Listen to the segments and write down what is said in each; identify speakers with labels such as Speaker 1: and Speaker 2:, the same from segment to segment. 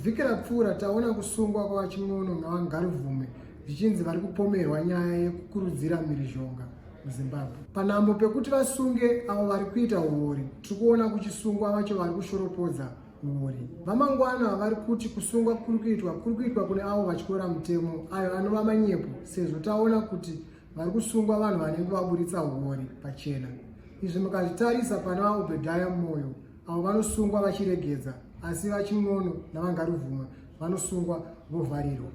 Speaker 1: vhiki rapfuura taona kusungwa kwavachimono navangarivhume zvichinzi vari kupomerwa nyaya yekukurudzira mhirizhonga muzimbabwe panhambo pekuti vasunge avo vari kuita huori tiri kuona kuchisungwa vacho vari kushoropodza mhuri. VaMangwana vari kuti kusungwa kuri kuitwa kuri kuitwa kune avo vatyora mutemo ayo anova manyepo sezvo taona kuti vari kusungwa vanhu vanenge vaburitsa huori pachena. Izvi mukazvitarisa pana vaObedhaya Moyo avo vanosungwa vachiregedza asi VaChin'ono naVaNgaruvhuma vanosungwa vovharirwa.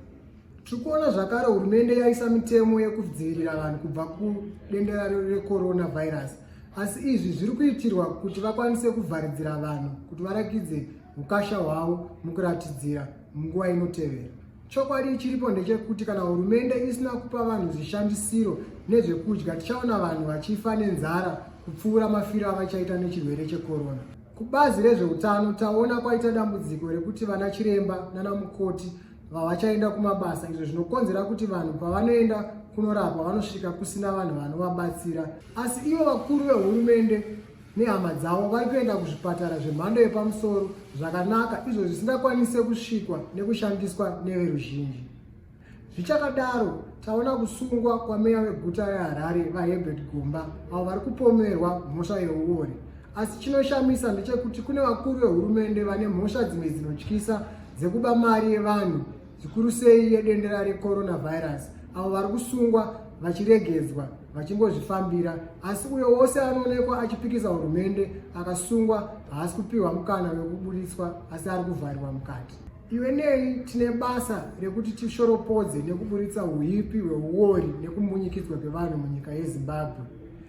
Speaker 1: Tiri kuona zvakare hurumende yaisa mitemo yekudzivirira vanhu kubva kudendera recoronavirus asi izvi zviri kuitirwa kuti vakwanise kuvharidzira vanhu kuti varakidze ukasha hwavo mukuratidzira munguva inotevera chokwadi chiripo ndechekuti kana hurumende isina kupa vanhu zvishandisiro nezvekudya tichaona vanhu vachifa nenzara kupfuura mafiro avachaita nechirwere chekorona kubazi rezveutano taona kwaita dambudziko rekuti vana chiremba nana mukoti vavachaenda kumabasa izvo zvinokonzera kuti vanhu pavanoenda kunorapwa vanosvika kusina vanhu vanovabatsira asi ivo vakuru vehurumende nehama dzavo vari kuenda kuzvipatara zvemhando yepamusoro zvakanaka izvo zvisingakwanise kusvikwa nekushandiswa neveruzhinji zvichakadaro taona kusungwa kwameya weguta reharare vaherbert gomba avo vari kupomerwa mhosva yeuori Asi chinoshamisa ndechekuti kune vakuru vehurumende vane mhosva dzimwe dzinotyisa dzekuba mari yevanhu zvikuru sei yedendera recoronavirus avo vari kusungwa vachiregedzwa vachingozvifambira asi uyo wose anoonekwa achipikisa hurumende akasungwa haasi kupiwa mukana wekuburitswa asi ari kuvharirwa mukati iwe nei tine basa rekuti tishoropodze nekuburitsa uipi hweuori nekumbunyikidzwa kwevanhu munyika yezimbabwe